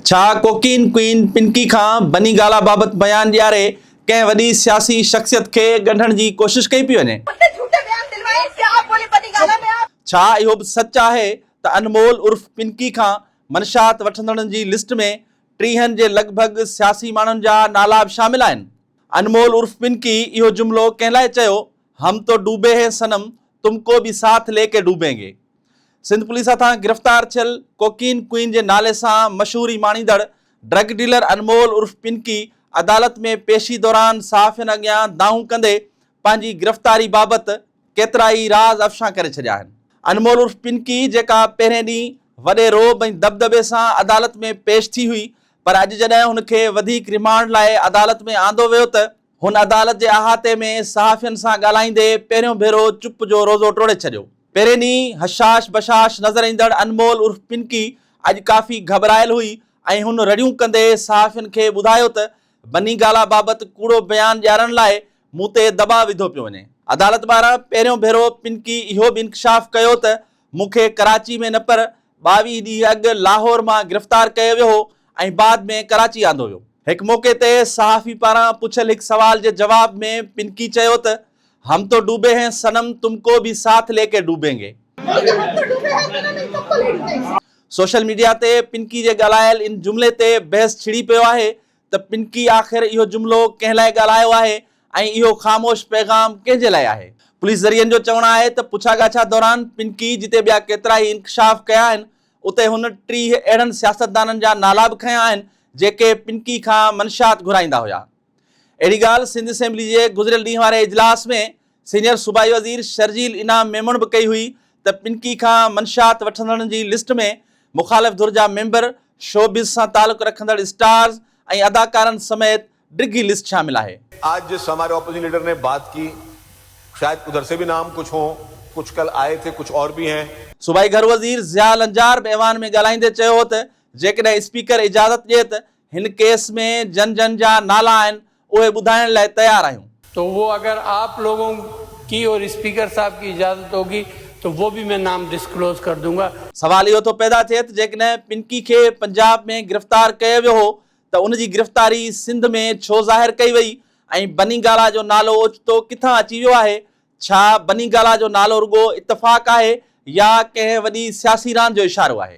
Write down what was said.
ڇا cocaine queen Pinky کان بني گالا بابت بيان ڏياري ڪنهن وڏي سياسي شخصيت کي ڳنڍڻ جي ڪوشش ڪئي پئي وڃي؟ ڇا اهو به سچ آهي ته انمول عرف پنڪي کان منشات وٺندڙن جي لسٽ ۾ ٽيهن جي لڳ ڀڳ سياسي ماڻهن جا نالا به شامل آهن؟ انمول عرف پنڪي اهو جملو ڪنهن لاء چيو ھم تو ڊوبي ھي صنم تم ڪو بي ساٿ لي ڪي ڊوبين گي سنڌ پوليس ھٿان گرفتار ٿيل ڪوڪين ڪوئين جي نالي سان مشھوري ماڻيندڙ ڊرگ ڊيلر انمول عرف پنڪي عدالت ۾ پيشي دوران صحافين اڳيان دانھون ڪندي پنھنجي گرفتاري بابت ڪيترائي راز افشان ڪري ڇڏيا آھن. انمول عرف پنڪي جيڪا پهرين ڏينهن وڏي رعب ۽ دٻدٻي سان عدالت ۾ پيش ٿي ھئي پر اڄ جڏھن ھن کي وڌيڪ ريمانڊ لاء عدالت ۾ آندو ويو ته هن عدالت جي احاطي ۾ صحافين سان ڳالهائيندي پهريون ڀيرو چپ جو روزو ٽوڙي ڇڏيو. پهرين ڏينهن حشاش بشاش نظر ايندڙ انمول عرف پنڪي اڄ ڪافي گهٻرايل هئي ۽ هن رڙيون ڪندي صحافين کي ٻڌايو ته بني گالا بابت ڪوڙو بيان ڏيارڻ لاء مون تي دٻاء وڌو پيو وڃي. عدالت ٻاهران پهريون ڀيرو پنڪي اهو به انڪشاف ڪيو ته مون کي ڪراچي ۾ نه پر ٻاويهه ڏينهن اڳ لاهور مان گرفتار ڪيو ويو هو ۽ بعد ۾ ڪراچي آندو ويو. هڪ موقعي تي صحافي پاران پڇيل هڪ سوال جي جواب ۾ پنڪي چيو ته هم تو ڊوبي هين صنم تم ڪو ڀي ساٿ لي ڪي ڊوبين گي. سوشل ميڊيا تي پنڪي جي ڳالهايل ان جملي تي بحث ڇڙي پيو آهي ته پنڪي آخر اهو جملو ڪنهن لاء ڳالهايو آهي ۽ اهو خاموش پيغام ڪنهن جي لاء آهي؟ پوليس ذريعن جو چوڻ آهي ته پڇا ڳاڇا دوران پنڪي جتي ٻيا ڪيترائي انڪشاف ڪيا آهن اتي هن ٽيهه اهڙن سياستدانن جا نالا به کنيا آهن جيڪي پنڪي کان منشيات گهرائيندا هيا اهڙي ڳالهه سنڌ اسيمبلي جي گذريل ڏينهن واري اجلاس ۾ سينيئر صوبائي وزير شرجيل انعام ميمڻ به ڪئي هئي ته پنڪي کان منشات وٺندڙن جي لسٽ ۾ مخالف ڌر جا ميمبر، شوبز سان تعلق رکندڙ اسٽارز ۽ اداڪارن سميت ڊگهي لسٽ شامل آهي. آج جس هماري اپوزيشن ليڊر ني بات ڪي شايد ادھر سي بي نام ڪچھ هو ڪچھ ڪل آئي ٿي ڪچھ اور بي هين. صوبائي گهر وزير ضياء لنجار به ايوان ۾ ڳالهائيندي چيو هو ته جيڪڏهن اسپيڪر اجازت ڏئي ته هن ڪيس ۾ جن جن جا نالا آهن اهي ٻڌائڻ لاء تيار آهيون. تو وو اگر آپ لوگون ڪي اور اسپيڪر صاحب ڪي اجازت هوگي تو وو بي مين نام ڊسڪلوز ڪر دون گا. سوال اهو ٿو پيدا ٿئي ته جيڪڏهن پنڪي کي پنجاب ۾ گرفتار ڪيو ويو هو ته ان جي گرفتاري سنڌ ۾ ڇو ظاهر ڪئي وئي ۽ بني گالا جو نالو اوچتو ڪٿان اچي ويو آهي؟ ڇا بني گالا جو نالو رڳو اتفاق آهي يا ڪنهن وڏي سياسي راند جو اشارو آهي؟